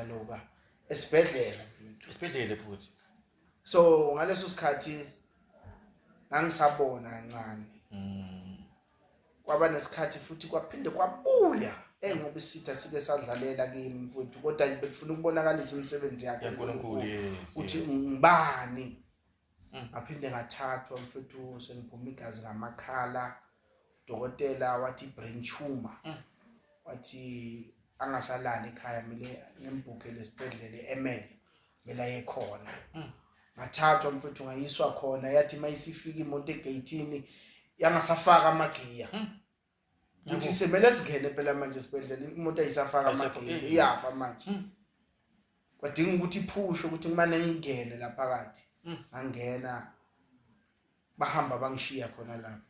loka esibhedlela esibhedlela futhi so ngaleso sikhathi ngangisabona kancane mm. kwaba nesikhathi futhi kwaphinde kwabuya engokisitha sike sadlalela kimi mfowethu kodwa bekufuna ukubonakalisa imisebenzi yakhe uNkulunkulu ukuthi ngibani Mm. ngaphinde ngathathwa mfethu sengiphuma igazi ngamakhala udokotela wathi brain tumor mm. wathi angasalali ekhaya mina ngembhukele esibhedlela e-emel kumele aye khona mm. ngathathwa mfethu ngayiswa khona yathi uma isifika imoto egeyithini yangasafaka amagiya ukuthi semele singene phela manje sibedlela imoto ayisafaka amagesi iyafa manje hmm. kwadinga ukuthi iphushe ukuthi kumane ngingene la phakathi hmm. angena bahamba bangishiya khona lapho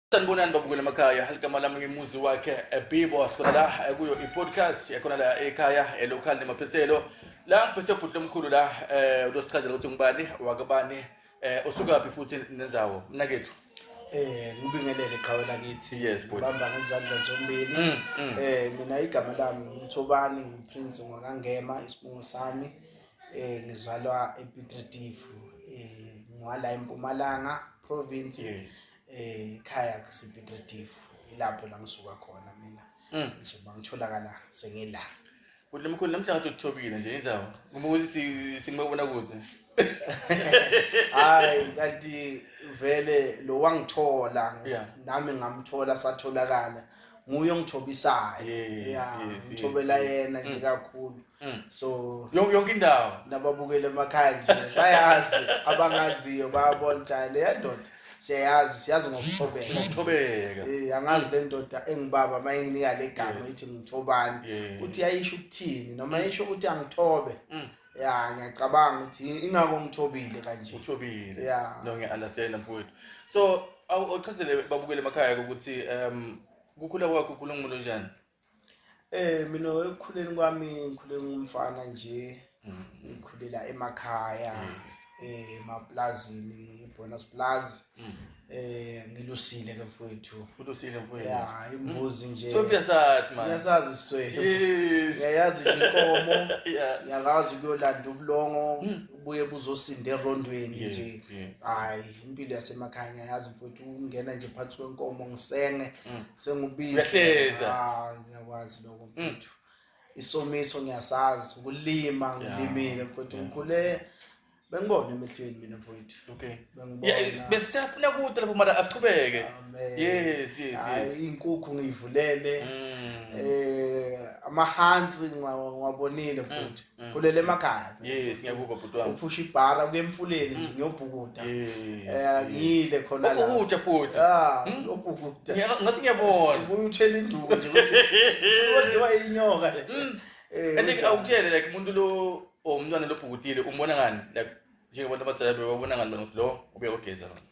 sanibonani babukela amakhaya ligama lami ngimuzi wakhe ebibo sikhona la kuyo i-podcast ekhona la ekhaya elokhali nemaphethelo la ngiphethe ubhuti lomkhulu la um utosichazela ukuthi ngubani wakabani um usukaphi futhi nenzawo mnakethu eh ngibingelele qhawe lakithi yes bhuti bamba ngezandla zombili mm, mm. eh mina igama lami ngithobani ngiprince ngwakangema isibungu sami eh ngizalwa ePitretifu eh ngwala eMpumalanga province yes. ekhaya kusepetritive ilapho la ngisuka khona mina mm. nje bangitholakala sengila kuhle mkhulu namhlanje uthobile nje indaba ngoba ukuthi simabona kuze hayi kanti vele lo wangithola nami ngamthola satholakala nguye ongithobisayo Yes, Yeah, yes, yes, ngithobela yes. yena nje Mm. kakhulu Mm. so Yon- yonke indawo nababukele emakhaya nje bayazi abangaziyo bayabona ukuthi hayi leya ndoda siyayazi siyazi ngokuthobeka ngokuthobeka Eh, angazi le ndoda engibaba uma inginika le gama Yes. ithi ngithobani Yes. ukuthi yayisho ukuthini noma yisho ukuthi angithobe Mm. ya ngiyacabanga ukuthi ingako ngithobile kanje uthobile yeah. no ngiya-understanda mfowethu so ochazele babukele emakhaya ukuthi um kukhula kwakho ukhula ngumuntu onjani Eh mina ekukhuleni kwami ngikhule ngumfana nje mm. ngikhulela emakhaya eh emaplazini ibonus plus mm. eh ngilusile ke mfowethu ulusile mfowethu ya imbuzi mm. nje so piyasat man yasazi swe yes yayazi inkomo yakazi kuyolanda ubulongo mm. ubuye buzosinda erondweni nje hayi impilo yasemakhaya ngiyazi mfowethu ungena nje phansi kwenkomo ngisenge sengubisi ah, ngiyakwazi lokho mfowethu isomiso ngiyasazi ukulima ngilimile mfowethu ngikhule bengibona emehlweni mina mfowethu okay bengibona besiyafuna kude lapho mara asiqhubeke yes yes yes inkukhu ngiyivulele mm. eh amahansi ngiwabonile mfowethu mm, mm. khulele emakhaya Yes, ngiyakuva bhuti wami. Uphusha ibhara kuye emfuleni nje ngiyobhukuda. Eh ngile khona la. Ubhukuda bhuti. Ah, ubhukuda. Ngathi ngiyabona. Ubuye uthela induku nje ukuthi udliwa inyoka le. Eh, I think awutshele like umuntu lo or umntwana lobhukutile umbona ngani like njengabantu abadala bebabona ngani lo ubuye ogeza lona.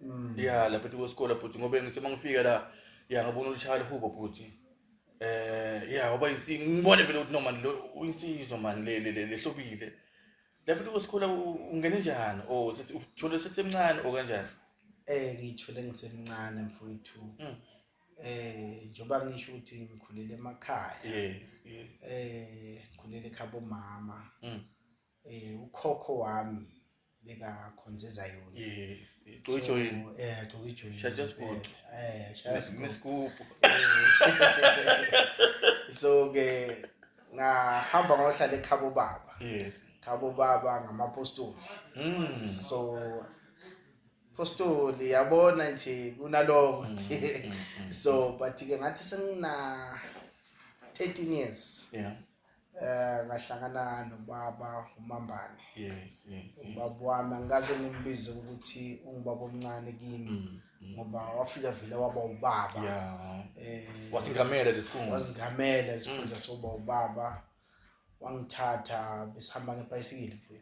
Mm. Yeah, lapha ethi kwesikole bhuti ngoba ngithe mangifika la yeah ngabona ulishaya hubo bhuti. Eh yeah ngoba insi ngibone vele ukuthi no man lo uyinsizwa man le le lehlobile. Lapha ethi kwesikole ungene njani? Oh sesi uthole sesemncane o kanjani? Eh ngithole ngisemncane mfowethu. Mm. eh njoba ngisho ukuthi ngikhulele emakhaya yes yes eh ngikhulele ekhabo mama mm. Eh ukhokho wami beka khonza ezayona. Yes, igcojo yini? Eh gcoka ijoyini. Shaja sikude. Eh shaja sikude. Mesigubhu. So ke ngahamba ngohlala ekhabo baba. Yes. Khabo baba ngamapostoli. Mm. So postoli yabona nje kunaloko mm, nje. Mm, mm, so but ke ngathi sengina 13 years. Yeah. eh ngahlangana nobaba umambane yes yes ubaba wami angikaze ngimbize ukuthi ungubaba omncane kimi mm, mm. ngoba wafika vele waba ubaba yeah eh wasingamela lesikhundla wasingamela isikhundla mm. soba ubaba wangithatha besihamba ngebhayisikile mfowethu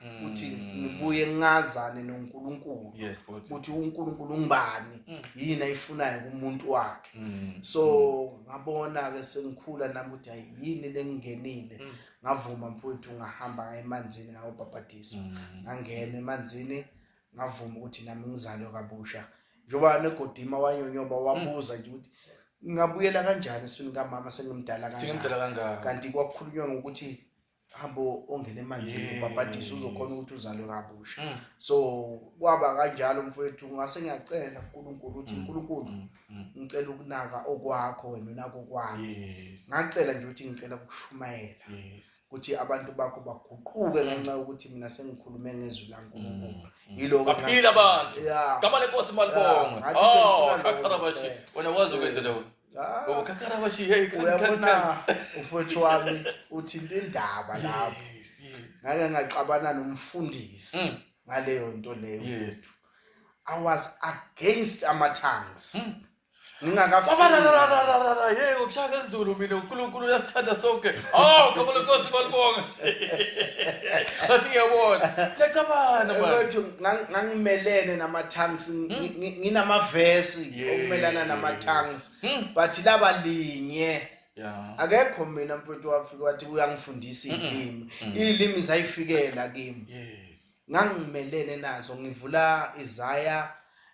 ukuthi mm. ngibuye ngingazane noNkulunkulu yes ukuthi uNkulunkulu ungibani mm. yini ayifunayo kumuntu wakhe mm. so ngabona ke sengikhula nami ukuthi ayini lengingenile ngavuma mfowethu ngahamba ngaye emanzini ngayobhabhadiswa ngangena emanzini ngavuma ukuthi nami ngizalwe kabusha njengoba negodima wanyonyoba wabuza nje ukuthi ngingabuyela kanjani eswini kamama sengimdala kangaka kanti kwakhulunywa ngokuthi hambe ongena emanzini Yes. ubhabhadiswe uzokhona ukuthi uzalwe kabusha Mm. so kwaba kanjalo mfowethu ngase ngiyacela kuNkulunkulu ukuthi Mm. uNkulunkulu Mm, mm. ngicela ukunaka okwakho wena unaka okwami Yes. ngacela nje ukuthi ngicela ukushumayela Yes. ukuthi abantu bakho baguquke ngenxa yokuthi mina sengikhulume ngezwi laNkulunkulu Mm, mm. yiloko Baphile abantu. ya Gama lenkosi malibongwe. Yeah, ngathi ke Oh, ngifuna lokho kakharabashi. kuphela. Wena wazi ukwenzele Ah. Oh, uyabona umfowethu wami uthinta indaba lapho ngake ngaxabana nomfundisi mm. ngaleyo nto leyo mfowethu i was against ama-tongues mm. ngingakayey ngokushaka ezulu mina unkulunkulu uyasithanda sonke o oh, gama lenkosi balibonga athi ngiyabona liyacabana ngang- ngangimelene nama-tanks Hmm. ngi- ngi- nginamavesi Yeah. okumelana nama-tanks Hmm. but laba linye Yeah. akekho mina mfowethu wafike wathi uyangifundisa iy'limi iy'limi zayifikela kimi Yes. ngangimelene nazo ngivula izaya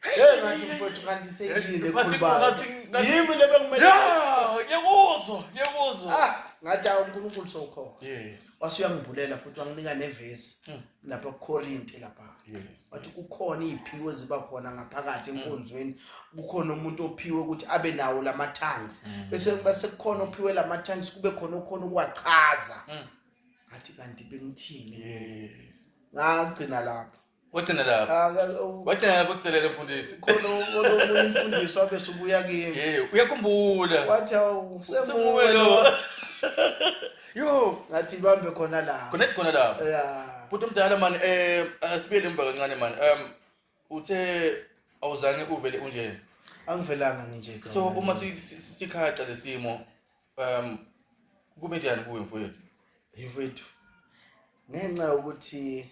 Hey ngathi mfowethu kanti seyini ekhulubayo. Yimi le bekumele. Yeah, ngiyakuzwa, ngiyakuzwa. Ah, ngathi uNkulunkulu sokhona. Yes. Wasuyangibhulela futhi wanginika nevesi hmm. lapha kuKorinte lapha. Yes. Wathi kukhona iziphiwo eziba khona ngaphakathi hmm. enkonzweni. Kukhona umuntu ophiwe ukuthi abe nawo lama tongues. Hmm. Bese bese kukhona ophiwe lama tongues kube khona okhona ukwachaza. Ngathi kanti bengithini? Yes. Ngagcina lapha. wagcina lapho wagcina lapho kuselele mfundisi khona omunye umfundisi wabe subuya kimi eh uyakhumbula wathi awusemuwe lo yo ngathi bambe khona la khona khona la yeah futhi umdala mani eh asibiyele emva kancane mani um uthe awuzange uvele unje angivelanga nginje so uma sikhaxa lesimo um kube njani kuwe mfowethu mfowethu ngenxa yokuthi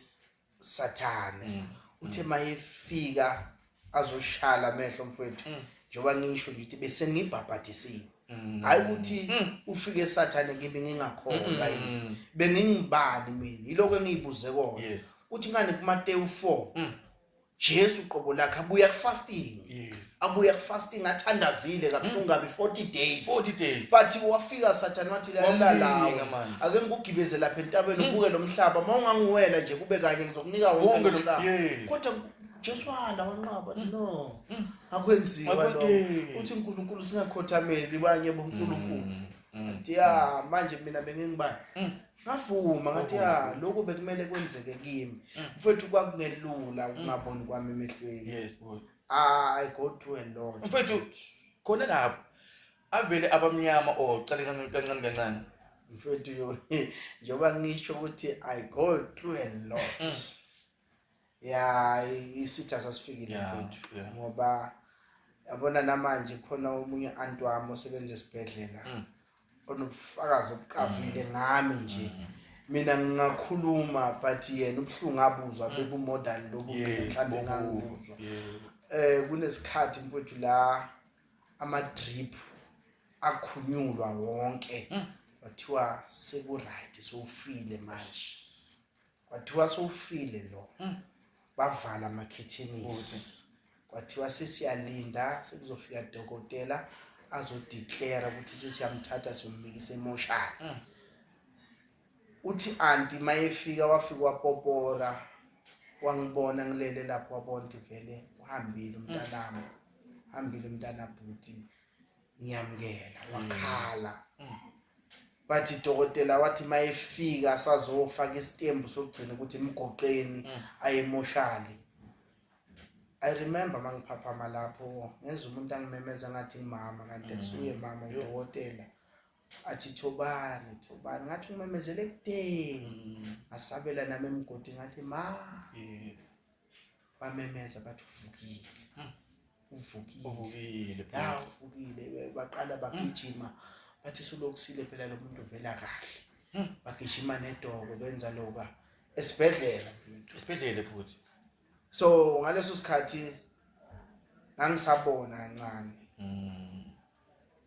sathane mm. uthe mm. mayefika azoshala amehlo mfowethu mm. njengoba ngisho nje ukuthi bese ngibhabhadisiwe hayi ukuthi ufike sathane kimi ngingakhona yini bengingibani mina yiloko engiyibuze kona uthi ngani kuMateyu 4 Jesu qobo lakhe abuya ku fasting yes. abuya ku fasting athandazile kabuhlungu kabi 40 days 40 days but wafika sathane wathi lalela lawo ake ngikugibeze lapha entabeni ubuke mm. lomhlaba uma ungangiwela nje kube kanye ngizokunika wonke lomhlaba kodwa Jesu wala wanqaba mm. no mm. akwenziwa lo uthi uNkulunkulu singakhothameli banye boNkulunkulu athi ya manje mina bengingibani ngavuma ngathi ya lokhu bekumele kwenzeke kimi mm. mfethu kwakungelula mm. ukungaboni kwami emehlweni yes boy i go through a lot mfethu khona lapho avele abamnyama or oh, qale kancane kancane mfethu yo njengoba ngisho ukuthi i go through a lot mm. ya isitha sasifikile mfethu ngoba yabona namanje khona omunye anti wami osebenza esibhedlela onobufakazi obuqavile ngami nje mina ngingakhuluma but yena ubuhlungu abuzwa mm. bebumodern lobu mhlawumbe ngangibuzwa eh kunesikhathi mfowethu la ama drip akhunyulwa wonke mm. kwathiwa seku right sowufile manje kwathiwa sowufile lo hmm. bavala amakhethenisi kwathiwa sesiyalinda sekuzofika dokotela azodeclara ukuthi sesiyamthatha siyombikisa emoshana hmm. uthi anti mayefika wafika wapopora wangibona ngilele lapho wabona ukuthi vele uhambile umntanami hmm. hambile umntana bhuti ngiyamukela wakhala bathi dokotela wathi mayefika asazofaka isitembu sokugcina ukuthi emgoqeni mm. ayemoshali i remember mangiphaphama lapho ngenza umuntu angimemeza ngathi ngimama kanti mm. kusuye mama udokotela athi thobani thobani ngathi ngimemezele ekudeni mm. asabela nami emgodi ngathi ma bamemeza bathi uvukile hmm. uvukile uvukile ya uvukile baqala bagijima bathi sulokusile phela lo muntu uvela kahle hmm. bagijima nedoko benza loka esibhedlela esibhedlela futhi so ngaleso sikhathi ngangisabona kancane hmm.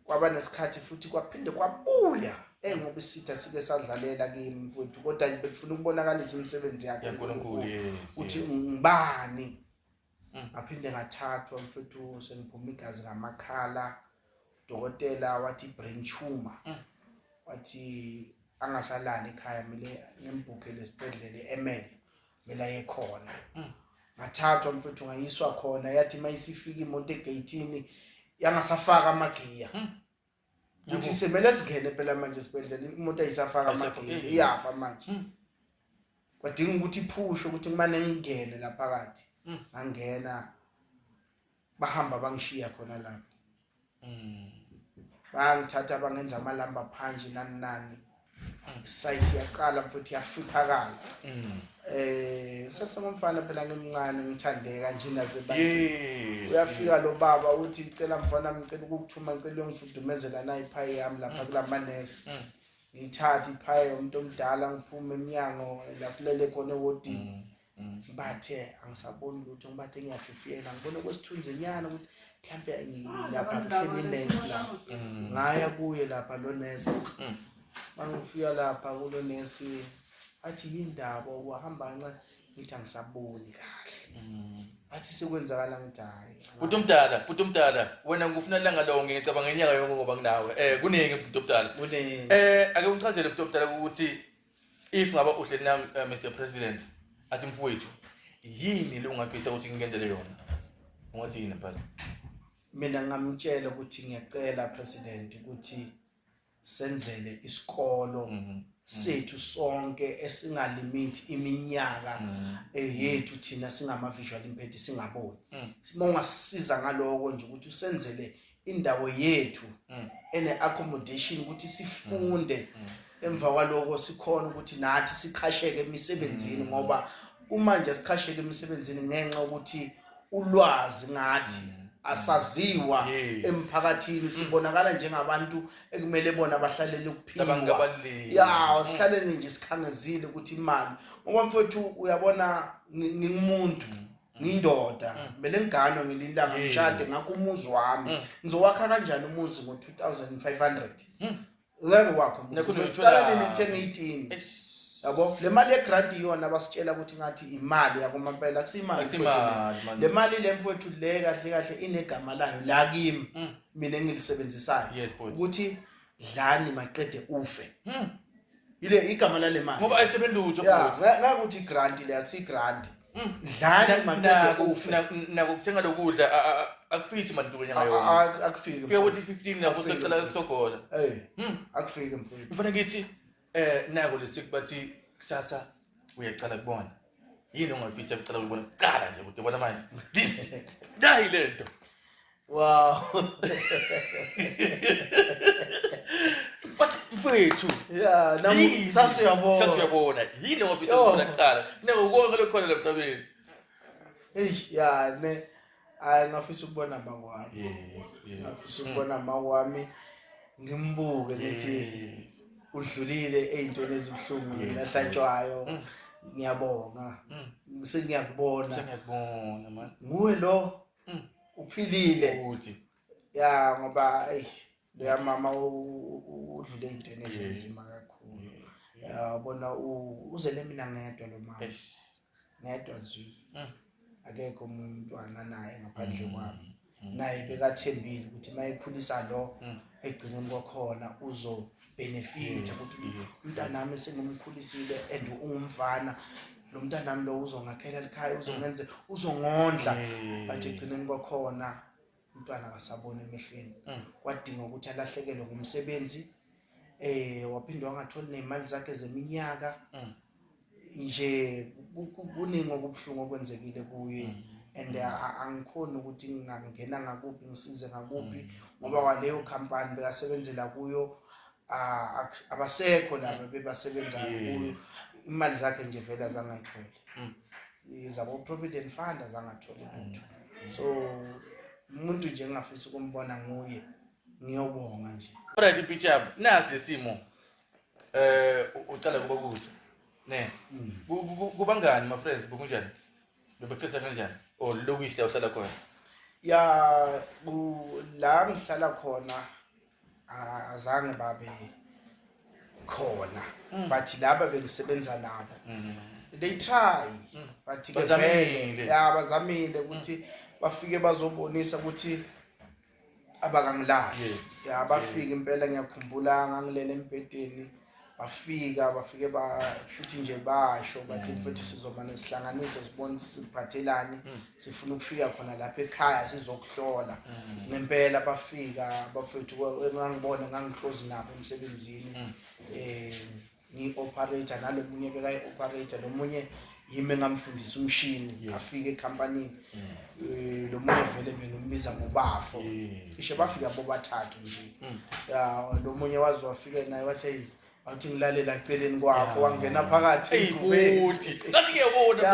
kwaba nesikhathi futhi kwaphinde kwabuya engoba isitha sike sadlalela kimi mfowethu kodwa bekufuna ukubonakalisa imisebenzi yakhe uNkulunkulu uthi ngibani mm. ngaphinde ngathathwa mfowethu sengiphuma igazi ngamakhala udokotela wathi brain tumor mm. wathi angasalali ekhaya mina ngimbhukele esibhedlela eMele mina ekhona mm. ngathathwa mfethu ngayiswa khona yathi mayisifika imoto egeyithini yangasafaka amagiya mm. ukuthi semele singene phela manje sibedlela imoto ayisafaka amagiya iyafa manje mm. kwadinga ukuthi iphushe ukuthi kumane ngingene laphakathi ngangena bahamba bangishiya khona lapho mm. bangithatha bangenza amalamba phansi nani nani site yaqala futhi yafiphakala mm. eh ngisasemfana phela ngimncane ngithandeka nje naze ba uyafika lo baba uthi cela mfana ngicela ukukuthuma ngicela uyongifudumezela na iphayi yami lapha mm. kulamanesi mm. ngithathe iphayi umuntu omdala ngiphume eminyango lasilele khona ewodini Mm. bathe angisaboni lutho ngibathe ngiyafifiyela ngibona okwesithunzenyana ukuthi mhlawumbe ngilapha kuhleli inesi la mm. ngaya kuye lapha lo nesi mm. mangifika lapha kulo nesi athi yindaba wahamba kancane ngithi angisaboni kahle athi sekwenzakala ngithi hhayi bhuti omdala bhuti omdala wena ngikufuna langa lonke ngicabanga ngenyaka yonke ngoba nginawe um kuningi bhuti omdala um eh, ake ungichazele bhuti omdala ukuthi if ngaba uhleli na uh, eh, mr president athi mfowethu yini le ungafisa ukuthi ngikenzele yona ungathi yini mphathi mina ngamtshela ukuthi ngiyacela president ukuthi senzele isikolo mm -hmm. sethu mm. sonke esingalimiti iminyaka mm. eh, yethu thina singama visual impedi singaboni mm. uma ungasisiza ngaloko nje ukuthi usenzele indawo yethu mm. ene accommodation ukuthi sifunde mm. Mm. emva kwaloko sikhona ukuthi nathi siqhasheke emisebenzini ngoba kumanje siqhasheke emisebenzini ngenxa ukuthi ulwazi ngathi asaziwa emphakathini sibonakala njengabantu ekumele bona bahlalele ukuphila ya sihlalele nje sikhangezile ukuthi imali ngoba mfowethu uyabona ngingumuntu Mm. ngiyindoda mm. bele ngiganwe ngelinye ilanga ngishade ngakho umuzi wami mm. ngizowakha kanjani umuzi ngo-2500 ngeke wakho qala nini ngithenge itini yabo le mali yegrant iyona basitshela ukuthi ngathi imali yakomampela kusiyimali le mali le mfowethu le kahle kahle inegama layo la kimi mina engilisebenzisayo ukuthi dlani maqede ufe yile igama lale mali ngoba ayisebenzi lutho ya ngakuthi igrant le akusi grant mm. dlani maqede ufe nako kuthenga lokudla akufiki manje into nyanga yona akufiki kuya ukuthi 15 lapho sekucela ukusogola hey mm. akufiki mfowethu mfana ngithi eh nako lesikubathi kusasa uyaqala kubona yini ongafisa kucela ukubona kuqala nje kude bona manje this nayi le nto wow mfethu ya namu sasuyabona sasuyabona yini ongafisa ukubona kuqala nekukonke lokhona lemhlabeni eyi ya ne hayi ngafisa ukubona mama wami ngafisa ukubona mama wami ngimbuke ngithi udlulile ey'ntweni ezibuhlungu yena ahlatshwayo mm. ngiyabonga mm. sengiyakubona nguwe lo mm. uphilile ya ngoba eyi loya mama udlule ey'ntweni ezinzima kakhulu yabona uzele mina ngedwa lo mama ngedwa zwi mm. akekho omunye umntwana naye ngaphandle mm. kwami mm. naye bekathembile ukuthi uma ekhulisa lo egcineni kwakhona uzobhenefitha ukuthi umntanami sengimkhulisile and ungumfana lo mntanami lo uzongakhela likhaya uzongenze uzongondla but egcineni kwakhona umntwana akasaboni emehlweni mm. kwadinga ukuthi alahlekelwe ngumsebenzi eh waphinde wangatholi nemali zakhe zeminyaka mm. nje kuningi okubuhlungu okwenzekile kuye mm. and uh, angikhoni ukuthi ngingangena ngakuphi ngisize ngakuphi ngoba waleyo company bekasebenzela kuyo ah, abasekho laba bebasebenzayo kuyo imali zakhe nje vele azangayitholi mm. zabo provident fund azangatholi lutho so umuntu nje engafisa ukumbona nguye ngiyobonga nje right impicture nasi lesimo eh uqala kuba kuhle ne mm. kubangani ma friends bokunjani bebexesa kanjani or lokuhle uhlala khona ya la ngihlala khona azange babe khona mm. but laba bengisebenza nabo mm. they try mm. but ke vele ya bazamile ukuthi bafike bazobonisa ukuthi abakangilahli yes. ya bafike impela ngiyakhumbula ngangilele embhedeni bafika bafike bashuthi nje basho bathi mm. mfethu sizomane sihlanganise sibone siphathelani mm. sifuna ukufika khona lapha ekhaya sizokuhlola mm. ngempela bafika bafethu engangibona ngangihlozi nabo emsebenzini eh ngi-operator nalomunye bekayi-operator nomunye yimi engamfundisa umshini yes. afike ecompany mm. eh, lo munye vele mina umbiza ngobafo yes. ishe bafika bobathathu nje mm. ya lo munye wazi wafike naye wathi hey awuthi ngilalela celeni kwakho wangena phakathi eyibuthi ngathi kuyabona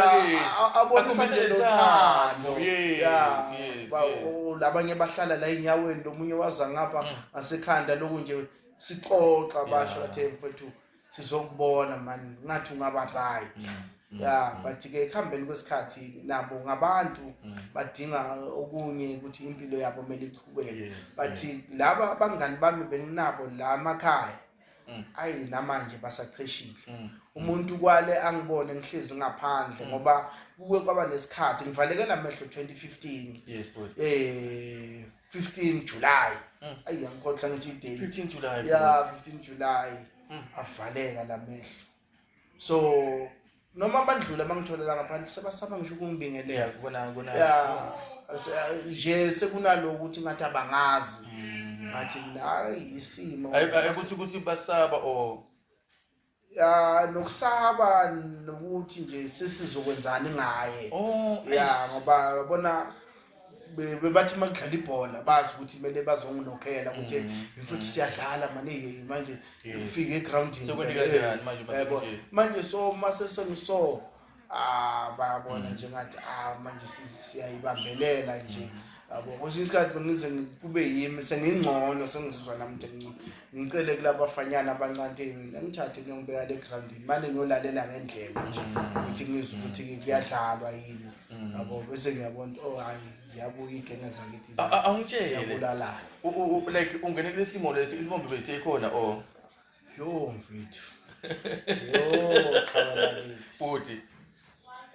abonisa nje lothando labanye bahlala la enyaweni lomunye waza ngapha mm. ngasekhanda loku nje sixoxa basho bathe mfethu sizokubona mani ngathi ungaba right mm, mm, ya mm. but-ke ekuhambeni kwesikhathi nabo ngabantu badinga okunye ukuthi impilo yabo kumele ichubeke but laba abangani bami benginabo la amakhaya ayi namanje basacheshile umuntu kwale angibone ngihlezi ngaphandle ngoba kuke kwaba nesikhathi ngivalekela amehlo 2015 yes eh 15 July mm. ayi ngikhohlwa ngisho idate 15 July yeah 15 July mm. avaleka lamehlo so noma abadlula bangitholela ngaphandle sebasaba ngisho ukungibingelela kubona kubona yeah nje sekunaloku ukuthi ngathi abangazi mm. ngathi la isimo ayikuthi ukuthi basaba or ya nokusaba nokuthi nje sesizokwenzani ngaye oh ya ngoba yabona bebathi uma kudlala ibhola bazi ukuthi kumele bazonginokhela ukuthi mm. mfuthu mm. siyadlala maningi manje ngifike egroundini yebo manje so uma seseniso ah bayabona mm. njengathi ah manje siyayibambelela nje mm. yabo kwesinye isikhathi bengize kube yimi sengingcono sengizizwa nami nje ngcono ngicele kulabafanyana abancanteni ngithathe ngiyongibeka le groundini mane ngiyolalela ngendlela nje mm. ukuthi ngizwe ukuthi kuyadlalwa yini yabo bese ngiyabona oh hayi ziyabuya igenge zakithi ziyabulala like ungene kulesimo lesi intombi beyisekhona or Yo mfethu. Yo khona lakithi. Bhuti.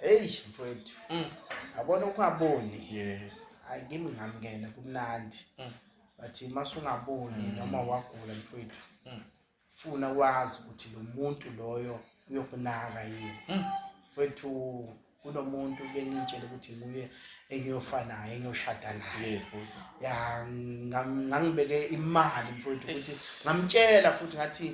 Hey mfethu. Mm. Yabona ukwaboni. Yes. Hayi kimi ngamngena kumnandi. Mm. Bathi masungaboni mm. noma wagula mfethu. Mm. Funa wazi ukuthi lo muntu loyo uyokunaka yini. Mm. Mfethu kunomuntu bengitshela ukuthi nguye engiyofa naye engiyoshada naye ya ngangibeke imali mfowethu ukuthi ngamtshela futhi ngathi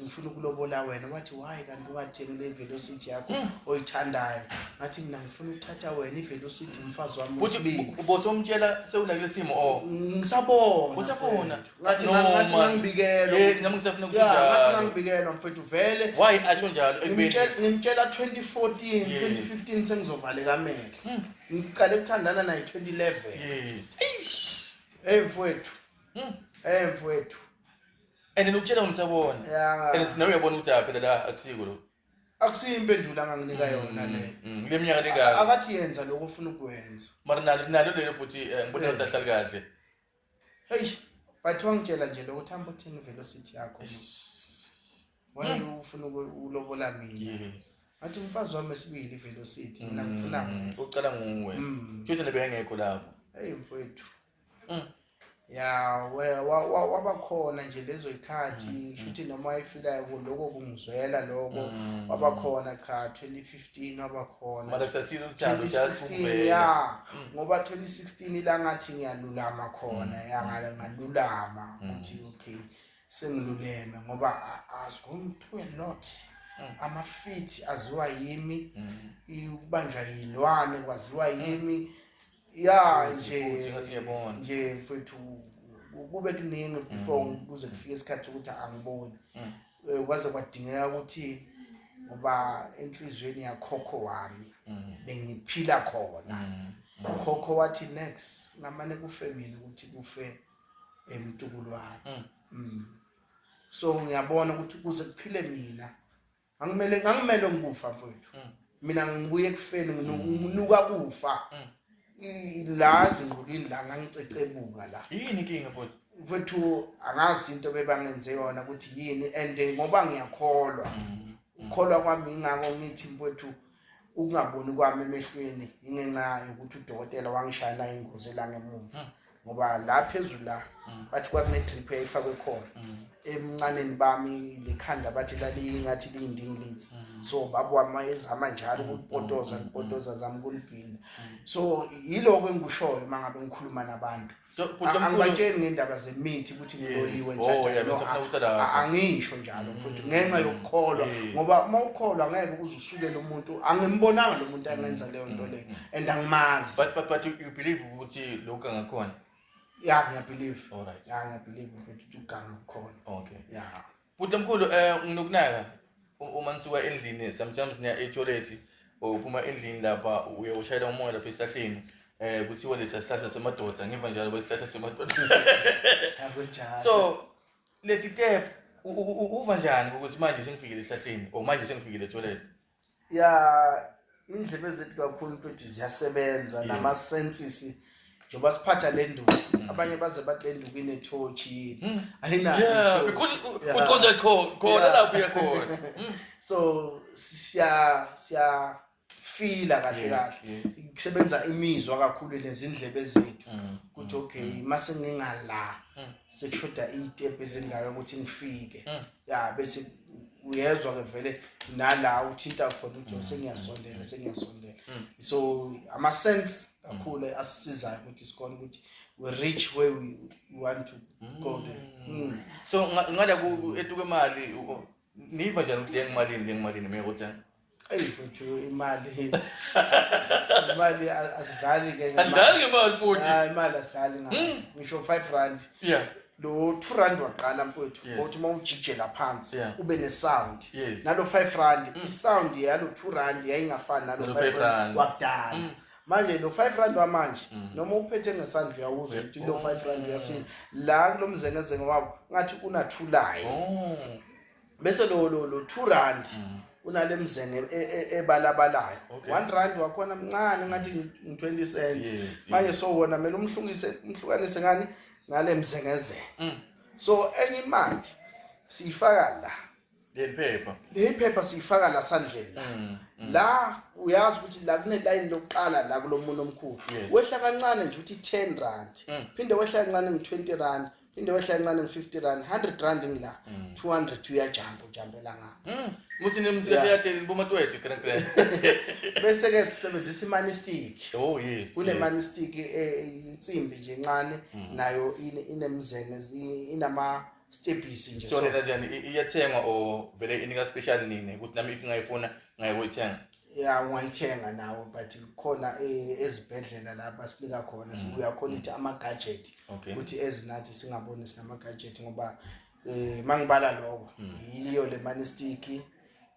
ngifuna ukulobola wena wathi why kanti ungathengi le velocity yakho hmm. oyithandayo ngathi mina ngifuna ukuthatha wena ivelocity umfazi wami wesibili ubosomtshela sewulakule simo o oh. ngisabona usabona ngathi No, ngathi man. ngangibikela Yeah, ukuthi- nami ngisafuna ukuthi Yeah, ngathi njalo. ngangibikela mfethu vele why asho njalo ekubeni ngimtshela ngimtshela 2014 Yes. 2015 sengizovaleka amehlo Mm. ngiqale ukuthandana naye 2011 yes Eish. hey mfowethu Mm. hey mfowethu and then ukutshela ngisabona ya and nawe uyabona ukuthi aphela la akusiko lo akusiyo impendulo anganginika yona le Mm, kule minyaka A- lengaka akathi yenza lokho ofuna ukwenza mara nalo nalo lelo bhuti eh, ngibona Yes. sahlali kahle Hey, but wangitshela nje lokho thamba uthini velocity yakho. Why hmm. ufuna ukulobola mina? Yes. Athi umfazi wami esibili velocity mina hmm. ngifuna mina. Ucela nguwe. Hmm. Futhi nebe ngekho lapho. Hey mfowethu. Mm. Ya waba khona nje lezo ikhathi shuthi noma ifilayo lokho kungizwela lokho waba khona cha 2015 15 wabakhona manje kusasile umthando 2016 ya mm. ngoba 2016 ila ngathi ngiyalulama khona mm. ya ngalulama mm. ukuthi okay sengiluleme ngoba as going to a lot amafithi aziwa yimi ukubanjwa yilwane kwaziwa yimi ya nje nje mfethu kube kuningi before mm. kuze kufike isikhathi ukuthi angiboni mm. eh, kwaze kwadingeka ukuthi ngoba enhliziyweni yakhokho wami mm. bengiphila khona ukhokho wathi next ngamane kufe mina ukuthi kufe emtukulu wami so ngiyabona ukuthi kuze kuphile mina angimele ngangimele ngikufa mfowethu mm. mina ngibuye ekufeni nginuka mm. kufa mm. la zingqulwini la ngangicecebuka la yini inkinga mfowethu mfowethu angazi into bebangenze yona ukuthi yini and eh, ngoba ngiyakholwa ukukholwa kwami ingako ngithi mfowethu ukungaboni kwami emehlweni ingenxa yokuthi udokotela wangishayela ingozi la ngemumva ngoba la phezulu la mm. bathi kwakune-drip eyayifakwe khona mm. emncaneni bami lekhanda bathi lalingathi liyindingilizi mm. so baba wami ezama njalo ukulipotoza lipotoza zami kulibhinda so yiloko engikushoyo uma ngabe ngikhuluma nabantu angibatsheli ngendaba zemithi ukuthi ngiloyiwe oh, njaangisho njalo mfowethu ngenxa yokukholwa ngoba uma ukholwa ngeke uze usukele umuntu angimbonanga lo muntu angenza leyo nto leyo and angimazi but but but you, you believe ukuthi lokho ngakhona yeah ngiyabelieve all right yeah ngiyabelieve ukuthi uganga ukhona okay yeah buti mkhulu eh nginokunaka uma nisuka endlini sometimes niya etoilet uphuma endlini lapha uye ushayela umoya lapha esihlahleni eh kuthiwa lesa sihlahla semadoda ngiva njalo kwesihlahla semadoda akunjalo so leti tep uva njani ukuthi manje sengifikile esihlahleni or manje sengifikile etoilet ya indlebe zethu kakhulu mfethu ziyasebenza nama senses njengoba siphatha le nduku hmm. abanye baze bathi le nduku inethoshi hmm. ayinaokhona lapho uyakhona hmm. so siya siya fila kahle kahle kusebenza imizwa kakhulu nezindlebe zethu ukuthi okay mase ngingala sekushoda itepe ezingaka ukuthi ngifike ya bese uyezwa ke vele nala uthinta khona uthi mm. sengiyasondela sengiyasondela mm. so ama sense kakhulu mm. asisizayo ukuthi sikole ukuthi we reach where we want to go there so ngala ku etuke imali niva njani ukuthi lengimalini lengimalini mekuthi eyi futhi imali imali asidlali ke andlali ngemali futhi ah, imali asidlali ngayo hmm. ngisho 5 rand yeah lo 2 rand waqala mfowethu ngokuthi uma ujijela phansi ube ne-sound nalo 5 rand hmm. i-sound yalo 2 rand yayingafani nalo 5 rand wakudala hmm. manje lo 5 rand wamanje mm. noma uphethe ngesandla uyawuzwa ukuthi lo 5 rand uyasinda la kulomzengezenge wabo ngathi unathulayo oh. bese lo lo lo 2 rand mm. unale mzene e, e, ebalabalayo okay. 1 rand wakhona mncane ngathi 20 cent yes, manje yes. so wona mina umhlungise umhlukanise ngani ngale mzengezelo mm. so enye imali siyifaka la leliphepha leliphepha siyifaka la sandleni la mm, mm. la uyazi ukuthi la kunelayini lokuqala la kulomuntu omkhulu yes. wehla kancane nje ukuthi 10 rand mm. phinde wehla kancane ngi 20 rand indawo ehlala incane ngi-50 rand 100 rand ngila 200 uyajamba ujambela ngapha Mm. Musi ne musika Yeah. yakhe bo matwete kran kran. bese-ke sisebenzisa imanistic Oh yes. kunemanistic insimbi nje encane Mm. nayo ine- inemzene i- inama-stebhisi nje So so. lena ziyani iyathengwa or vele inika special nini ukuthi nami if ngayifuna ngayoyithenga. ya ungayithenga nawe but khona e, ezibhedlela lapha sinika khona mm. sibuya khona ithi ama-gadget ukuthi ezinathi singaboni sinama-gadget ngoba um eh, ma ngibala loko mm. yiyo le manistiki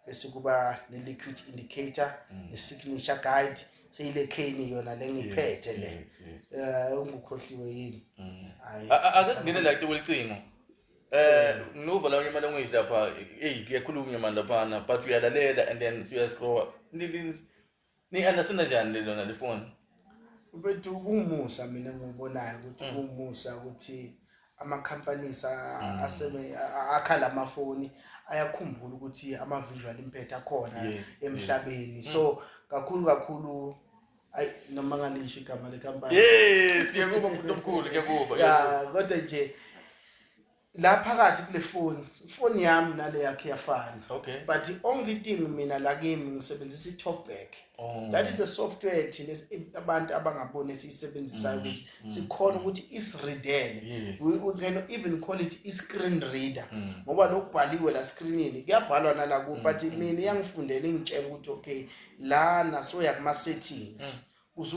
bese kuba ne-liquid indicator mm. ne-signature guide seyile kheni yona le ngiphethe le um eh, ungukhohliwe yini ake singene la kucingo Eh ngiluva la unyamana ongizwi lapha eyi kuyakhulunywa nyamana laphana but uyalalela and then uyascrowa ni-understanda njani lona lifoni bethu kumusa mina ngiwubonayo ukuthi mm. kumusa ukuthi ama-companies mm. akhala amafoni ayakhumbula ukuthi ama-visual impact akhona emhlabeni mm. so kakhulu kakhulu ayi noma ngalisho igama lekampani eh siyakuba umuntu omkhulu kuyakuba ya kodwa nje la phakathi kule foni ifoni yami nale yakhe yafana okay but the only thing mina la kimi ngisebenzisa i-talk back oh. that is a software thina abantu abangaboni esiyisebenzisayo mm, ukuthi mm, sikhona mm. ukuthi isireadele yes. we, we can even call it i-screen reader mm. ngoba lokubhaliwe la screenini kuyabhalwa nalaku mm, but mm, mina iyangifundela ingitshela ukuthi okay lana soya kuma settings mm. uze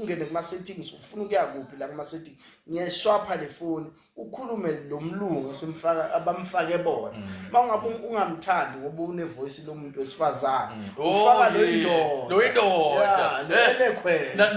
ungene kuma settings ufuna ukuya kuphi la kuma settings ngiyashwapha le phone ukhulume lo mlungu esimfaka abamfake bona mangabe mm. ungamthandi ngoba une voice lomuntu wesifazane mm. oh, ufaka lo indoda lo indoda lele khwela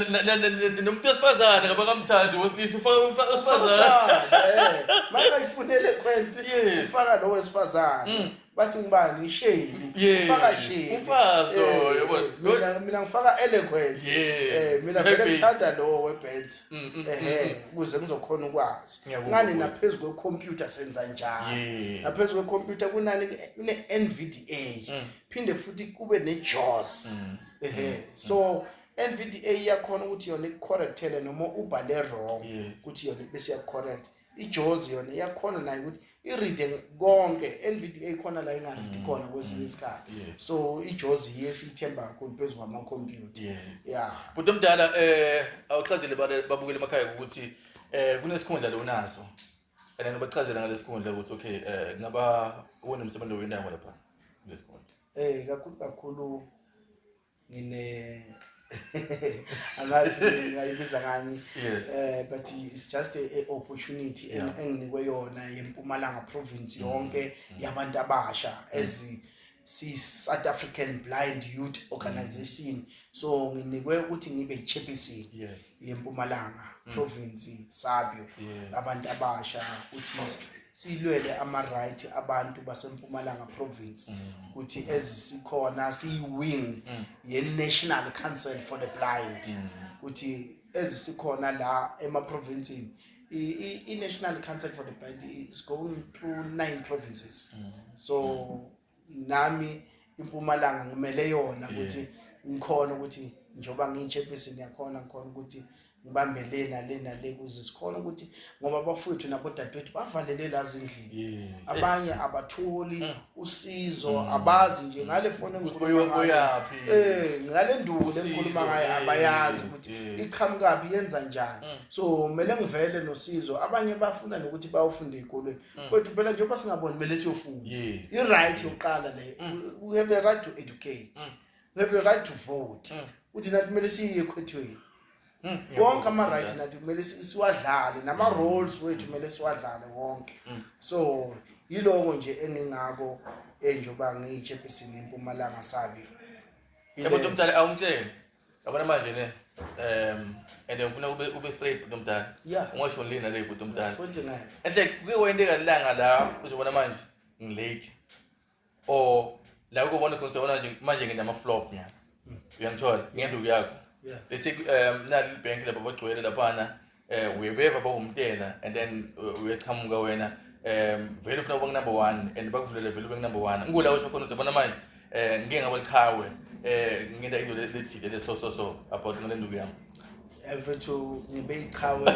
nomuntu wesifazane ngoba kamthandi wesilisa ufaka umfaka wesifazane eh, manje ifunele khwenzi ufaka lo wesifazane mm. bathi ngibani isheli ufaka sheli umfazi loyo eh, eh, mina mina ngifaka eloquent eh mina vele ngithanda lowo webands mm, mm, ehe mm, ukuze ngizokhona ukwazi ngani naphezulu kwecomputer senza njani naphezulu kwecomputer kunani kune NVDA phinde futhi kube ne JAWS ehe so NVDA iyakhona ukuthi yona ikucorrectele noma ubhale wrong ukuthi yona bese iyakucorrect ijozi yona iyakhona nayo ukuthi iride konke nvda khona la ingaridi mm, khona kwesinye mm, isikhathi so ijozi yiyo esiyithemba kakhulu phezu kwamakhompyutha ya bhuti omdala um awuchazile babukele emakhaya ukuthi um kunesikhundla lo unaso and then ubachazela ngalesikhundla ukuthi okay um ngaba uwona msebenzi owendawo lapha kulesikhundla um kakhulu kakhulu ngine angazi ngayibiza ngani eh but it's just a, a opportunity enginikwe yona yeMpumalanga province mm. yonke mm. yabantu abasha mm. as si South African Blind Youth Organization so nginikwe ukuthi ngibe chairperson yes yeMpumalanga province sabio abantu abasha uthi silwele ama right abantu baseMpumalanga province ukuthi ezisikhona siyi-wing mm. ye-national council for the blind mm. ukuthi ezisikhona la emaprovinsini i-national council for the blind is going through nine provinces mm. so nami impumalanga ngimele yona ukuthi ngikhona ukuthi njengoba ngiyi-chairperson yakhona ngikhona ukuthi ngibambe le nale nale kuze sikhona ukuthi ngoba abafowethu nabodadewethu bavalelwe la zindlini abanye abatholi mm. usizo mm. abazi nje ngale foni engikhulumayoyaphi eh ngale nduku lengikhuluma ngayo abayazi ukuthi iqhamukabi yenza njani mm. so kumele ngivele nosizo abanye bafuna nokuthi bayofunda ezikolweni kodwa phela njengoba singaboni kumele siyofunda i right yokuqala le we have the right to educate we have a right to vote mm. uthi nathi kumele siye ekhwethweni mm. wonke ama-right nathi kumele siwadlale nama-roles mm. wethu kumele siwadlale wonke so yiloko nje engingako enje uba ngiyitshepisini impumalanga sabi ebontu omdala awumtsheni yabona manje ne um and ngifuna ube ube straight bhuti omdala ungasho ngilini nale bhuti omdala enhle kuyiwo into engalilanga la uzobona manje ngilate or la ukubona khona sewona nje manje ngenda ama flop nyana uyangithola ngenduku yakho Yeah. bese um nali bank lapha bagcwele laphana um uyebeva bawumtela and then uh, uyachamuka wena um vele ufuna kuba number one and bakuvulele vele ube number one ngikula usho khona uzobona manje um ngike ngaba liqhawe um ngenta into le- lethile le so so so about ngale nduku yami mfethu ngibe iqhawe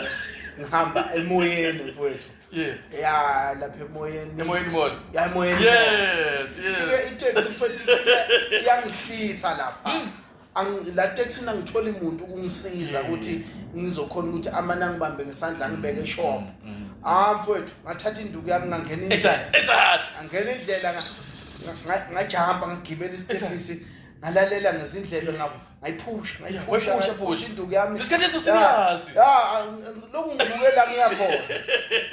ngihamba emoyeni mfethu Yes. Yeah, lapha emoyeni. Emoyeni mona. Yeah, emoyeni. Yes, yes. Fike i-taxi mfethu iyangihlisa lapha. Hmm. Ang la taxi nangithola imuntu ukungisiza ukuthi ngizokhona ukuthi amana ngibambe ngesandla ngibeke hmm. shop. Hmm. Ah mfethu, ngathatha induku yami ngangena indlela. Exactly. Angena indlela ngajamba ngagibela isitepisi. ngalalela ngezindlebe ngabo ngayiphusha ngayiphusha ngayiphusha induku yami isikhathi eso singazi ya lokhu ngibukela ngiyakhona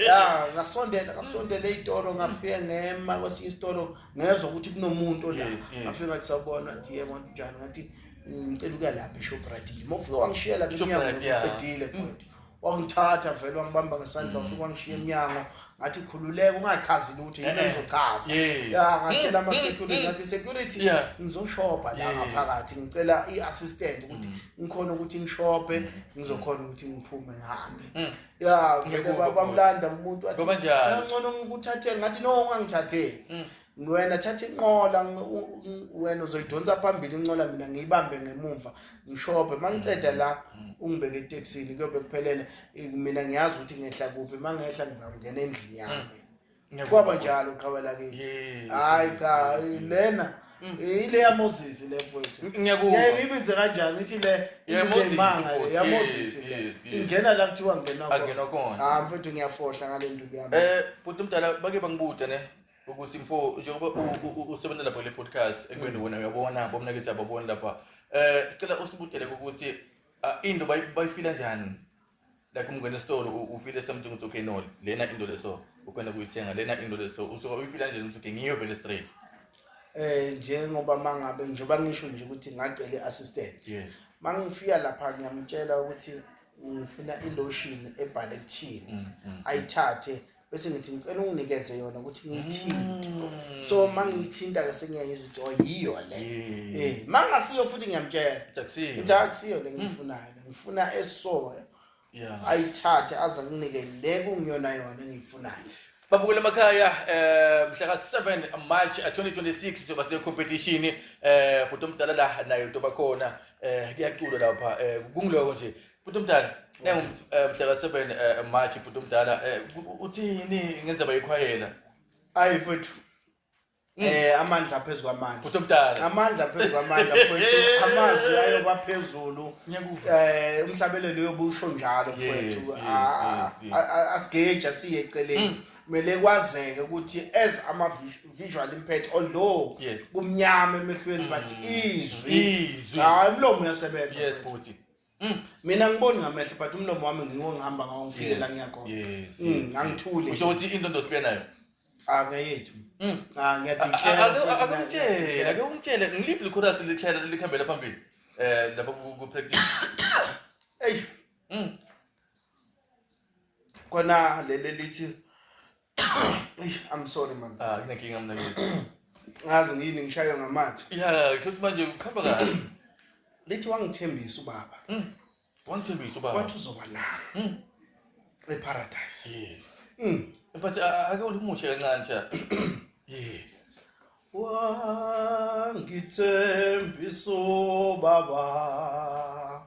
ya ngasondela ngasondela izitoro ngafike ngema kwesinye isitoro ngezwe ukuthi kunomuntu la ngafike ngathi sawubona thi yebo njani ngathi ngicela ukuya lapha eShoprite ngimofike wangishiyela benyanga ngiqedile mfowethu wangithatha vele wangibamba ngesandla wafika wangishiya emnyango ngathi khululeka ungachazi lutho yini engizochaza ya ngatshela mm, mm, ama-security mm. ngathi security ngizoshopha la ngaphakathi ngicela i-assistant ukuthi ngikhona ukuthi ngishophe ngizokhona ukuthi ngiphume ngihambe ya vele bamlanda umuntu wathi ngcono ngikuthathele ngathi no ungangithatheli wena thatha inqola wena uzoyidonsa phambili inqola mina ngiyibambe ngemumva ngishophe mangiceda la mm. ungibeke etaxini kuyobe kuphelele mina ngiyazi ukuthi ngehla kuphi mangehla ngizakungena endlini yami mm. kwaba njalo uqhawela kithi hayi cha lena mm. ile ya Moses le mfowethu ngiyibize kanjani ngithi le imanga ya Moses le ingena la kuthiwa ngena khona ah mfowethu ngiyafohla ngale nduku yami eh bhuti mdala bake bangibude ne ukuthi mfo njengoba usebenza lapha kule podcast ekubeni wena uyabona bomnakithi ababoni lapha eh sicela usibutele ukuthi ah, into bayifila njani like umngene esitolo ufile something ukuthi okay no lena into leso ukwenda kuyithenga lena into leso usuka uyifila nje ukuthi okay ngiyo vele straight eh njengoba mangabe njengoba ngisho nje ukuthi ngacela i-assistant yes mangifika lapha ngiyamtshela ukuthi ngifuna ilotion ebhale kuthini mm, mm, mm. ayithathe bese ngithi ngicela unginikeze yona ukuthi ngiyithinte mm. so uma ngiyithinta ke sengiyaye izinto oh, yiyo le mm. eh mangasiyo futhi ngiyamtshela ukuthi akusiyo le ngiyifunayo mm. ngifuna esoya ayithathe aze nginike le kungiyona yona engiyifunayo babukela emakhaya eh mhla ka 7 March 2026 eh, sizoba se competition eh bhuti omdala la naye utoba khona eh kuyaculwa lapha eh kungiloko nje Bhuti umdala, nengu eh, mhla ka 7 eh, March bhuti umdala eh, u- uthini ngenzaba yekhwayela? Ayi mfowethu. Mm. Eh amandla phezu kwamandla. Bhuti umdala. Amandla phezu kwamandla mfowethu. Amazwi ayo kwaphezulu. Ngiyakuva. Eh umhlabelelo yobusho njalo Yes, mfowethu. yes, Ah, yes, yes. a- a- Asigeja siye Mm. eceleni. Kumele kwazeke ukuthi as ama vis- visual impact although Yes. Mm. kumnyama emehlweni but izwi. Izwi. Hayi umlomo uyasebenza. Yes bhuti. Mm. mina ngiboni ngamehlo but umlomo wami ngiwo ngihamba ngawo ngifike la ngiya khona yes, mm, yes, angithule usho ukuthi into ndosibuya nayo ah ngeyethu mm. ah ngiyadeclareakumtshele ake umtshele ngiliphi likhorasi lishayela likhambela phambili um lapha ku-practice eyi Kona lele lithi I'm sorry man. Ah, kunenkinga mina ngeke. Ngazi ngini ngishaywa ngamathe. Yeah, kusho ukuthi manje ukhamba kahle. Lithi wangithembisa ubaba. Mm. Wangithembisa ubaba. Wathi uzoba nami. Mm. EParadise. Yes. Mm. But ake ulimushe kancane cha. Yes. Wangithembisa ubaba.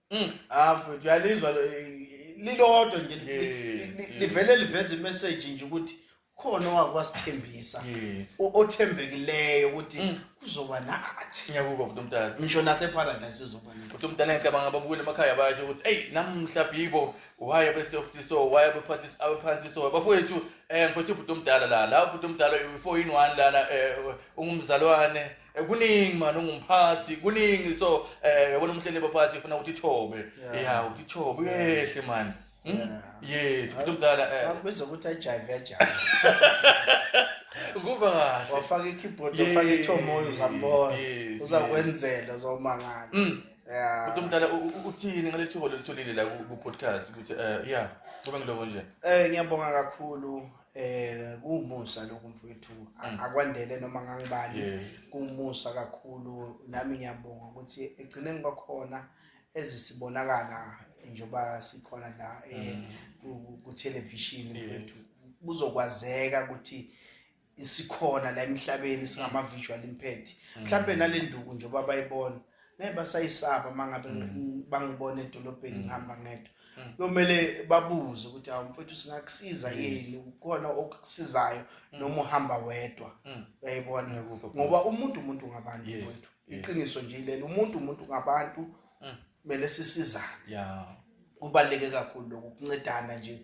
Mm. Ah mfethu uyalizwa lilodwa nje livele liveza imessage nje ukuthi khona owake wasithembisa othembekileyo ukuthi mm. uzoba nathi ngiyakuva bhuti umdala ngisho naseparadise uzoba nathi bhuti umdala ngicabanga ababukeli emakhaya basho ukuthi eyi namhla bhibo waye besoftiso waye bephathisa abephansiso bafowethu um eh, mfethu ubhuti omdala la la ubhuti omdala u-four in one lana um ungumzalwane Eh, kuningi mani ungumphathi kuningi so eh yabona umhleli baphathi ufuna ukuthi ithobe Yeah. ya ukuthi ithobe uyehle mani Hmm? Yeah. yes kuthi umdala eh Bakubiza ukuthi ajayive ajayive. kuva kahle Wafaka i-keyboard, Yes, wafaka ithomoyo uzambona. yes, Uzakwenzela uzomangala. Mm. Yeah. kuthi umdala u- u- uthini ngale thuba lolitholile la ku- ku-podcast ukuthi eh ya kuba ngilobo nje Eh ngiyabonga kakhulu eh kumusa lokhu mfowethu mm. akwandele noma ngangibani kumusa kakhulu nami ngiyabonga ukuthi egcineni kwakhona ezisibonakala njengoba sikhona la eh, mm. ku television mfowethu kuzokwazeka ukuthi sikhona la emhlabeni singama visual imphethe mm. mhlawumbe nalenduku njengoba bayibona ngeke basayisaba uma ngabe mm. bangibona edolobheni mm. ngihamba ngedwa mm. kuyomele babuze ukuthi awu mfethu singakusiza yini ukhona okusizayo noma uhamba wedwa uyayibona ngoba umuntu umuntu ngabantu mfethu iqiniso nje lelo umuntu umuntu ngabantu kumele sisizane kubaluleke kakhulu lokhu kuncedana nje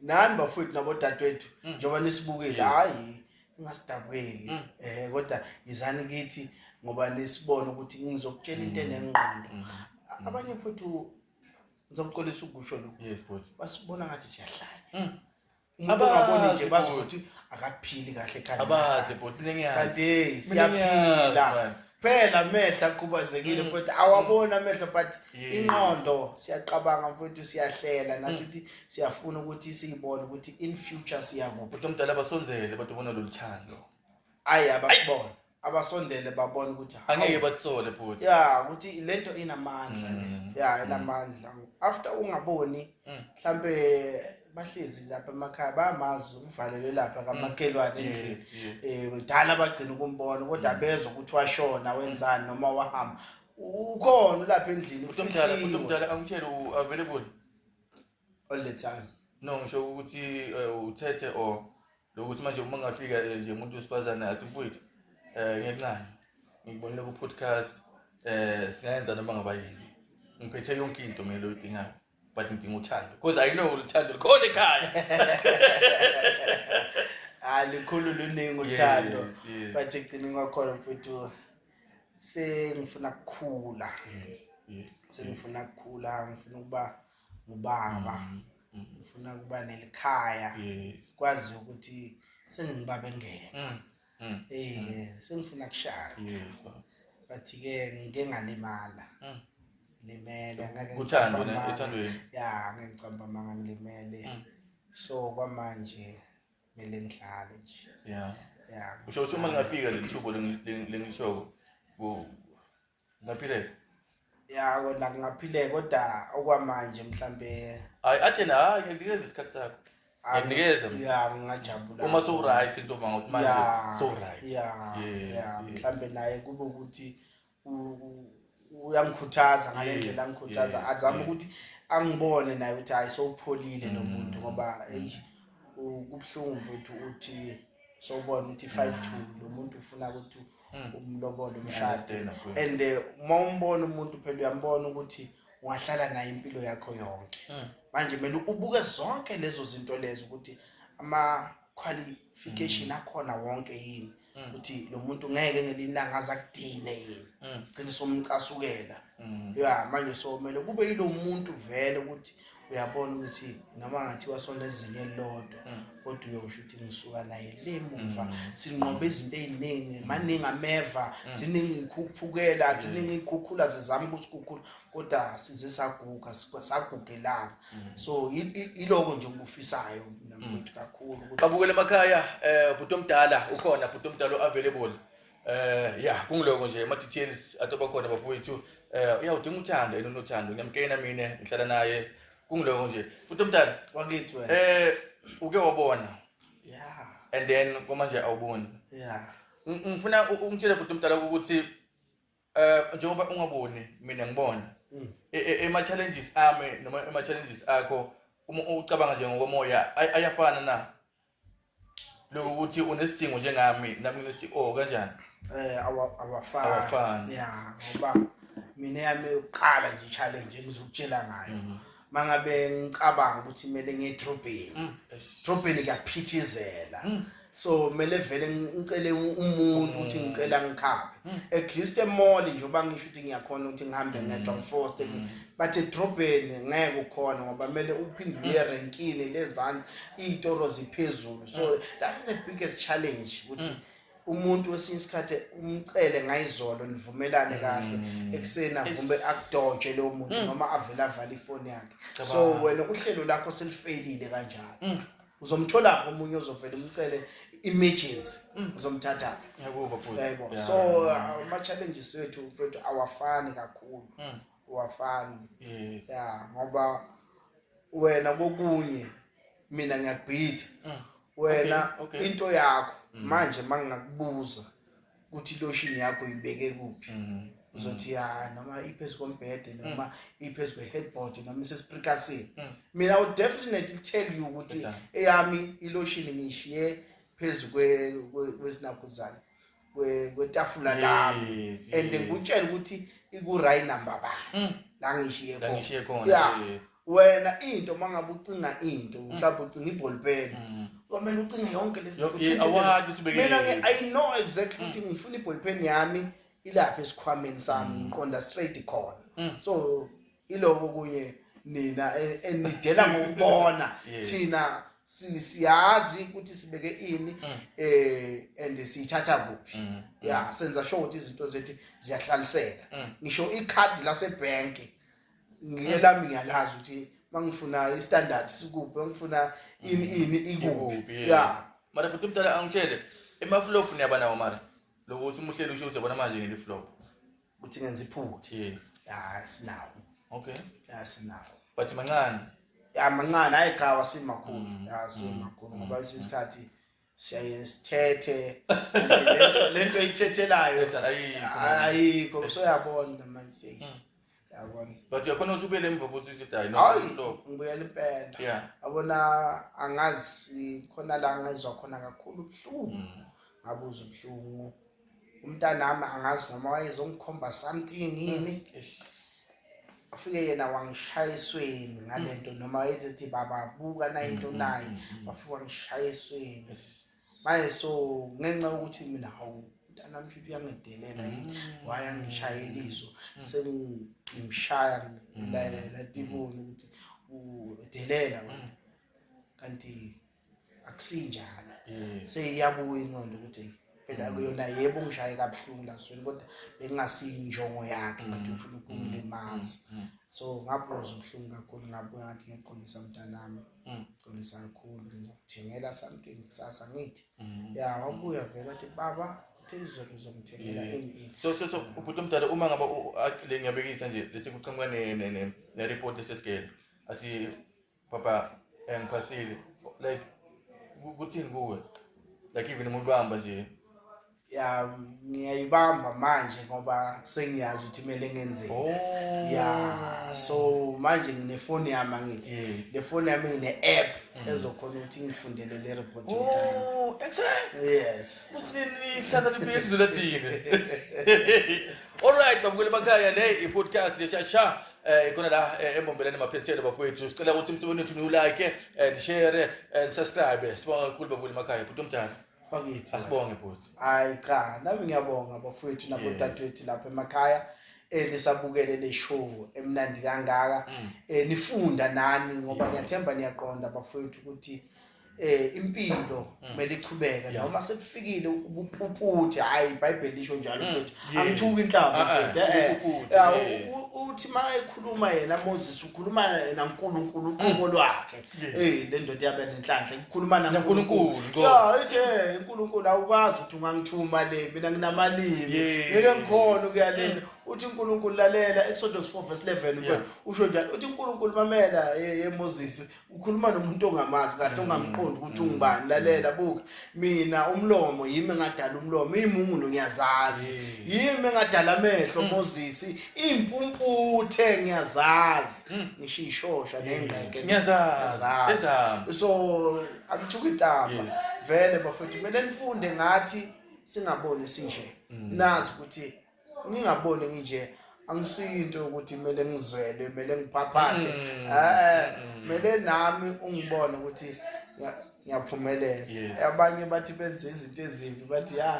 nani bafowethu nabodadewethu mm. njengoba nisibukile hhayi ningasidabukeli um mm. kodwa yizani kithi ngoba nisibone ukuthi ngizokutshela into enengqondo abanye futhi ngizokuxolisa ukusho lokhu basibona ngathi siyahlanya umuntu ongaboni nje bazi ukuthi akaphili kahle ekhanda abazi bhuti ningiyazi kanti siyaphila phela amehlo akhubazekile mm. futhi awabona amehlo but inqondo siyaqabanga mfowethu siyahlela nathi mm. ukuthi siyafuna ukuthi siyibone ukuthi in future siyakuphi kodwa mdala abasonzele bathi ubona lolu thando ayi abasibona abasondele babona ukuthi angeke batsole futhi ya ukuthi lento inamandla le mm. ya inamandla after ungaboni mm. mhlambe bahlezi lapha emakhaya bamazi uvalelwe lapha kamakhelwane mm. endlini eh kudala bagcina ukumbona kodwa mm. bezwe ukuthi washona wenzani noma wahamba ukhona lapha endlini ufihlile umuntu omdala angitshele u available all the time no ngisho ukuthi eh, uthethe or lokuthi manje uma ngafika eh, nje umuntu wesifazane athi mfowethu um ngenxani ngikubonile ku-podcast um singayenza noma ngaba yini ngiphethe yonke into mina loyidingayo but ngidinga uthando because i know uthando likhona ekhaya hayi likhulu luningi uthando but ekugcineni kwakhona mfowethu sengifuna kukhula sengifuna kukhula ngifuna ukuba ngubaba mm, mm. ngifuna ukuba nelikhaya kwazi ukuthi sengingibaba engeke mm, mm. eh mm. sengifuna kushaya yes baba but ke ngike ngalimala mm. limele ngeke uthando uthando ya ngeke ngicamba manga ngilimele mm. so kwamanje mele ngihlale nje yeah yeah usho ukuthi uma ngingafika lelithubo lengishoko ngaphileka ya kona kungaphileka kodwa okwamanje mhlambe hayi athi yena hayi ngiyakunikeza isikhathi sakho ngiyakunikeza mina. ya ngingajabula uma sowuright into uma ngokuthi manje ya sowuright ya Yes, ya yes. mhlambe naye kube ukuthi u- u- uyangikhuthaza ngale Yes, ndlela angikhuthaza yes, azama yes. ukuthi angibone naye ukuthi hayi sowupholile lo Mm, muntu ngoba mm. eish u- kubuhlungu mfethu uthi sowubona ukuthi 5 2 lo muntu ufuna ukuthi mm. umlobole umshade and eh, uma umbona umuntu phela uyambona ukuthi ungahlala naye impilo yakho yonke mm. manje kumele ubuke zonke lezo zinto lezo ukuthi ama-qualification mm. akhona wonke yini ukuthi lo muntu ngeke ngelinanga aze akudine yini gcine somcasukela ya manje so kumele kube yilo muntu vele ukuthi uyabona ukuthi noma ngathiwa sona ezinye elilodwa mm. kodwa uyosho ukuthi ngisuka naye le muva mm. sinqobe izinto ey'ningi maningi ameva mm. ziningi iy'khuphukela ziningi iy'khukhula zizama ukusikhukhula kodwa size saguga sagugelana so iloko nje okufisayo namfowethu kakhulu babukele emakhaya um bhuti omdala ukhona bhuti omdala u-available Eh ya kungiloko nje ama details atoba khona bafowethu. Eh uyawudinga uthando yena unothando ngiyamkena mina ngihlala naye kungiloko nje. Futhi omdala wakithi wena. Eh uke wabona. Yeah. And then komanje awuboni. Yeah. Ngifuna ungitshele futhi omdala ukuthi eh njengoba ungaboni mina ngibona. Mm. E, e, ema challenges ami noma ema challenges akho uma ucabanga nje ngokomoya ayafana na? lokho ukuthi unesidingo njengami nami ngithi oh kanjani eh awafani awafani ya ngoba mina yami uqala nje challenge engizokutshela ngayo mhm. mangabe ngicabanga ukuthi kumele ngiye drobheni mm, drobheni kuyaphithizela mm. so kumele vele ngicele umuntu ukuthi mm. ngicela ngikhaphe at least emall nje oba ngisho ukuthi ngiyakhona ukuthi ngihambe ngedwa ngifoste but edrobheni ngeke ukhona ngoba kumele uphinde uye mm. erenkini lezansi iy'toro ziphezulu so mm. that is the biggest challenge ukuthi mm. umuntu wesinye isikhathi umcele ngayizolo nivumelane kahle ekuseni avume akudoje lowo muntu noma avele avale ifoni yakhe so wena uhlelo lakho selifeyilile kanjalo uzomthola omunye ozovela umcele emergency mm. uzomthatha yabo so ama challenges wethu mfethu awafani kakhulu mm. wafani yes. ya ngoba wena kokunye mina ngiyakubhida mm. wena okay, okay. into yakho mm. manje mangingakubuza ukuthi iloshini yakho uyibeke kuphi mm. uzothi ya noma iphezu kombhede mm. noma iphezu kwe-headboard noma isesprikasini mm. mina would definitely tell you ukuthi eyami iloshini ngiyishiye phezu kwesinakuzane kwetafula lami and ngikutshela ukuthi iku-right number bani mm. la ngishiye khona wena into uma ngabe ucinga into mm. mhlawumbe ucinga ibholpeni mm. kwamele ucinge yonke lesmina-ke i know exactly ukuthi ngifuna ibholpeni yami ilapha esikhwameni sami ngiqonda straight khona so Iloko kunye nina e- enidela ngokubona Yeah. thina si- siyazi ukuthi sibeke ini Mm. eh and siyithatha kuphi. Mm, Yeah, senza sure ukuthi izinto zethu ziyahlaliseka. Mm. Ngisho ikhadi lasebank ngiye lami ngiyalazi ukuthi mangifuna istandard sikuphi, mangifuna ini ini ikuphi. Ikuphi, Mm. yeah. Yeah. mara bhuti mdala angitshele emafulofu niyaba nawo mara lokuthi umuhleli usho ukuthi yabona manje ngiliflop ukuthi ngenza iphutha yes ya sinawo okay ya sinawo but mancane ya mancane hayi cha wasimakhulu mm. ya simakhulu mm. ngoba mm. isikhathi siyaye sithethe lento lento ithethelayo ayikho so yabona manje yabona but uyakhona ukuthi ubuyele emva futhi uthi hayi no ngibuyele impela yabona angazi khona la ngizwa khona kakhulu ubuhlungu ngabuza ubuhlungu umntanami angazi noma wayezongikhomba something yini afike mm. yena wangishaya esweni ngale nto mm. noma wayethi baba buka na into mm, naye wafike wangishaya esweni manje so ngenxa yokuthi mina hawu mntanami shuthi uyangidelela yini wayangishayela iso sengimshaya latiboni ukuthi udelela wena kanti akusinjalo mm. seyiyabuya inqondo ukuthi phela mm. kuyona yebo ngishaye kabuhlungu lasweni kodwa bengingasiyinjongo yakhe mm. ukuthi ufuna ukungilimaza so ngabuzwa ubuhlungu kakhulu ngabuya ngathi ngiyaxolisa mntanami xolisa kakhulu ngizokuthengela something kusasa ngithi ya wabuya vele wathi baba phezulu uzomthengela ini so so so ubhuti omdala uma ngaba le ngiyabekisa nje lesi kuqhamuka ne ne ne report lesesigele asi papa engiphasile like ku- kuthini kuwe like even umuntu uhamba nje ya ngiyayibamba manje ngoba sengiyazi ukuthi kumele ngenzeni oh ya so manje nginefoni yami angithi yes le foni yami ngine-app Mm. ezokhona ukuthi ngifundele le report yomntana oh excellent yes kusinini hlala libuye edlula thina alright babukeli bakhaya le i-podcast leshasha eh ikona la eh, embombeleni maphethelo bafowethu sicela ukuthi imsebenzi wethu niwulike eh, nishere eh, nisubscribe sibonga kakhulu babuli makhaya bhuti omdala bakithi asibonge bhuti hayi cha nami ngiyabonga bafowethu nabodadewethu lapha emakhaya eh nisabukele le show emnandi kangaka Mm. eh nifunda nani ngoba ngiyathemba niyaqonda bafowethu ukuthi eh impilo mm. kumele ichubeke noma sekufikile ubuphuthi hayi iBhayibheli lisho njalo mm. mfethu angithuki inhlamba ah, ah, mfethu eh, eh, eh uthi mayekhuluma yena Moses ukhuluma yena uNkulunkulu mm. uqobo lwakhe eh le ndoda yabe nenhlanhla ikhuluma naNkulunkulu ya ithi eh, uNkulunkulu awukwazi ukuthi ungangithuma le mina nginamalimi ngeke ngikhona ukuya lena uthi uNkulunkulu lalela Exodus 4 verse 11 mfethu usho njalo uthi uNkulunkulu mamela ye Moses ukhuluma nomuntu ongamazi kahle mm. ongamqondi ukuthi mm. ungubani lalela mm. buka mina umlomo yimi engadala umlomo imungulo ngiyazazi yimi engadala amehlo mozisi impumputhe ngiyazazi ngisho ishosha nengqeke ngiyazazi so akuthuka intamba vele bafethu kumele nifunde ngathi singaboni sinje nazi ukuthi ngingaboni nginje angisiyinto ukuthi kumele ngizwele kumele ngiphaphathe mm. eh kumele mm. nami ungibone ukuthi ngiyaphumelela abanye bathi benze izinto ezimbi bathi ya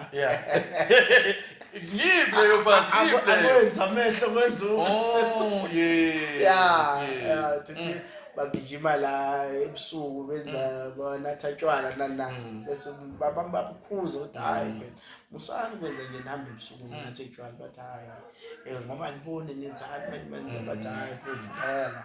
ngible yobathi ngible akwenza amehlo kwenza oh yes ya mm. bagijima la ebusuku benza mm. banatha tshwala nana mm. bese babamba bukhuza ukuthi hayi musani kwenza nje nami ebusuku mm. ngathi etshwala bathi hayi eh, ngoba nibone nenzani manje manje mm. bathi hayi mfethu phela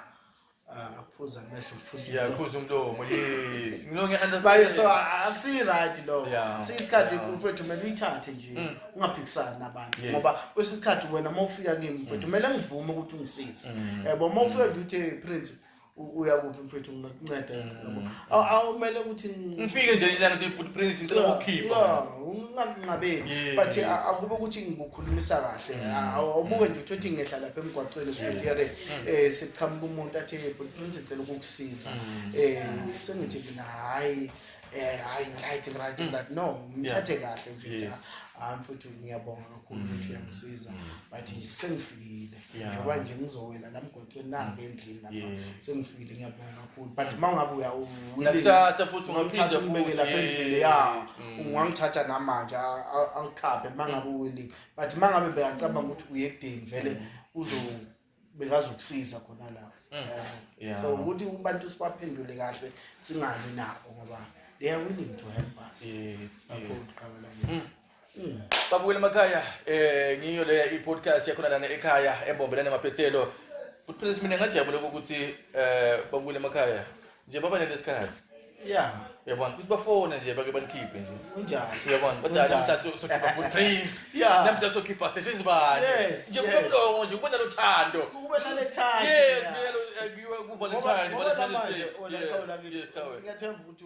ah, aphuza amehlo phuza umlomo yes ngilonge baye so akusiyi right lo siyisikhathi mfethu kumele uyithathe nje mm. ungaphikisani nabantu ngoba kwesinye isikhathi wena uma ufika kimi mfethu kumele ngivume ukuthi ungisize yabo uma ufika nje uthe prince uya kuphi mfethu ngingakunceda yabo mm. awumele ukuthi ngifike nje ilana sibhuti prince ngicela ukukhipha ungakunqabeli but akube ukuthi ngikukhulumisa kahle mm. awubuke nje ukuthi ngehla lapha emgwaqweni sokuyere mm. eh siqhamuka umuntu athi bhuti prince ngicela ukukusiza eh sengithi mina hayi eh hayi right right right no ngithathe kahle mfethu hayi mfethu ngiyabonga kakhulu ukuthi uyangisiza but sengifikile njengoba nje ngizowela la mgwaqweni nake endlini lapha sengifikile ngiyabonga kakhulu but uma ungabe uyawuwilingithatha futhi ungamthatha umbeke lapha endlini ya mm. ungangithatha namanje angikhaphe uma ngabe uwilling but uma ngabe bekacabanga ukuthi uye ekudeni vele mm. uzo bekazokusiza khona la mm. so ukuthi abantu sibaphendule kahle singalwi nabo ngoba they are willing to help us yes, yes. Mm. Babuyela emakhaya eh ngiyo le i-podcast yakhona lana ekhaya embombelela namaphethelo. But please mina ngajabula ukuthi eh babuyela emakhaya nje baba nelesikhathi. Yeah. Uyabona ukuthi bafone nje bake banikhiphe nje. Kunjani? Uyabona kodwa Kunjani? namhlanje sokhipha good praise. Yeah. Namhlanje sokhipha sesizibani. Yes, Nje kube yes. mlongo nje kube nalothando. Kube nalethanda. Yes, yeah. ngiyalo- eh, ngiwe ku Ngoba- Valentine, ngoba Valentine's namanje, Day. oh, lapha Yes, ulakini, yes, Tawe. ngiyathemba ukuthi